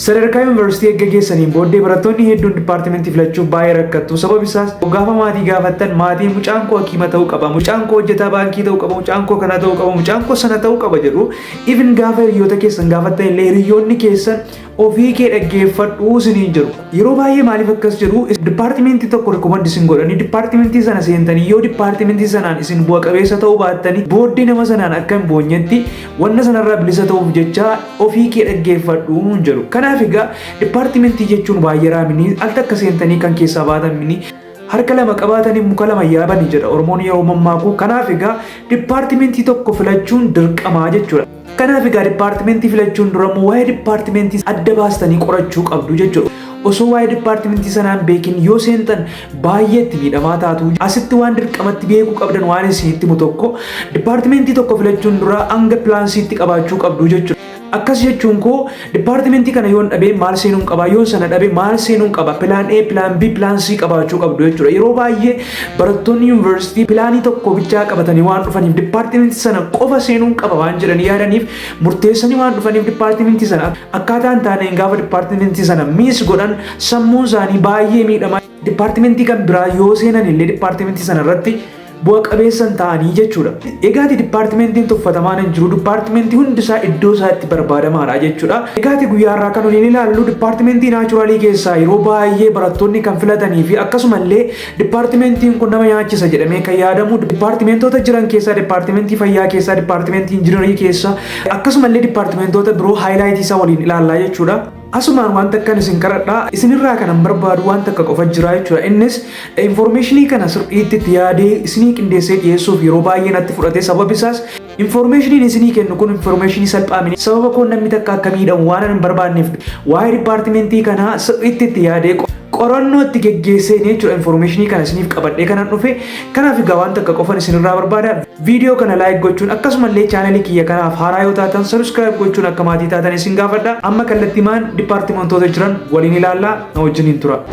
Sadarkaa yuunivarsiitii erga geessaniin booddee barattoonni hedduun dipaartimentii filachuuf baay'ee rakkattu. Sababi isaas gaafa maatii gaafattan maatiin mucaan koo hakiima ta'uu qaba, mucaan koo hojjetaa baankii ta'uu qaba, mucaan koo kana ta'uu qaba, mucaan koo sana ta'uu qaba jedhu. Even gaafa hiriyoota keessan gaafattan illee hiriyoonni keessan ofii kee dhaggeeffadhu isiniin jedhu. Yeroo baay'ee maaliif akkas jedhu dipaartimentii tokko rikoomandi isin godhanii dipaartimentii sana seentanii yoo dipaartimentii sanaan isin bu'a qabeessa ta'uu baattanii booddee nama sanaan akka hin boonyetti wanna sanarraa bilisa ta'uuf jecha ofii kee dhaggeeffadhu nuun jedhu. Kanaaf egaa dipaartimentii jechuun waayyaraa mini al takka seentanii kan keessaa baatan mini harka lama qabaatanii muka lama yaabani jedha Oromoon yeroo mammaakuu. Kanaaf egaa dipaartimentii tokko filachuun dirqamaa jechuudha. Kanaaf egaa dipaartimentii filachuun dura immoo waa'ee dipaartimentii adda baastanii qorachuu qabdu jechuudha. Osoo waa'ee dipaartimentii sanaan beekin yoo seentan baay'ee itti miidhamaa taatu. Asitti waan dirqamatti beekuu qabdan waan isin itti himu tokko dipaartimentii tokko filachuun dura hanga pilaansiitti qabaachuu qabdu jechuudha. Akkas jechuun koo dipaartimentii kana yoon dhabee maal seenuun qaba yoon sana dhabee maal seenuun qaba pilaan A pilaan B pilaan C qabaachuu qabdu jechuudha. Yeroo baay'ee barattoonni yuunivarsiitii pilaanii tokko bichaa qabatanii waan dhufaniif dipaartimentii sana qofa seenuun qaba waan jedhanii yaadaniif murteessanii waan dhufaniif dipaartimentii sana Akkaataa hin taaneen gaafa dipaartimentii sana miis godhan sammuun isaanii baay'ee miidhama. Dipaartimentii kan biraa yoo seenan illee dipaartimentii sana irratti bu'a qabeessa hin ta'anii jechuudha. Egaati dipaartimentiin tuffatamaan hin jiru. Dipaartimentii hundi isaa iddoo isaa itti barbaadamaadha jechuudha. Egaati guyyaa irraa kan nuti ilaallu dipaartimentii naachuraalii keessaa yeroo baay'ee barattoonni kan filatanii fi akkasuma illee Dippaartimentiin kun nama nyaachisa jedhamee kan yaadamu dippaartimentoota jiran keessaa dippaartimentii fayyaa keessaa dippaartimentii injinarii keessaa akkasumallee dippaartimentoota biroo haayilaayitii isaa waliin ilaallaa jechuudha. Asumaan wanta akkan isin qaradhaa isinirraa kanan barbaadu wanta akka qofa jira jechuudha. Innis infoormeeshinii kana sirriitti itti yaadee isinii qindeessee dhiyeessuuf yeroo baay'ee natti fudhate sababi isaas Infoormeeshiniin isinii kennu kun infoormeeshinii salphaa miti. Sababa koon namni takka akka miidhamu waan hin barbaanneef waa'ee dipaartimentii kanaa sirriitti itti yaadee qorannoo itti geggeesseen jechuudha infoormeeshinii kana isiniif qabadhee kanan dhufe. Kanaaf egaa waan takka qofan isinirraa barbaada. Viidiyoo kana laayik gochuun akkasumallee chaanalii kiyya kanaaf haaraa yoo taatan sabiskiraayib gochuun akka maatii taatan isin gaafadha. Amma kallattimaan dipaartimentoota jiran waliin ilaallaa na wajjiniin tura.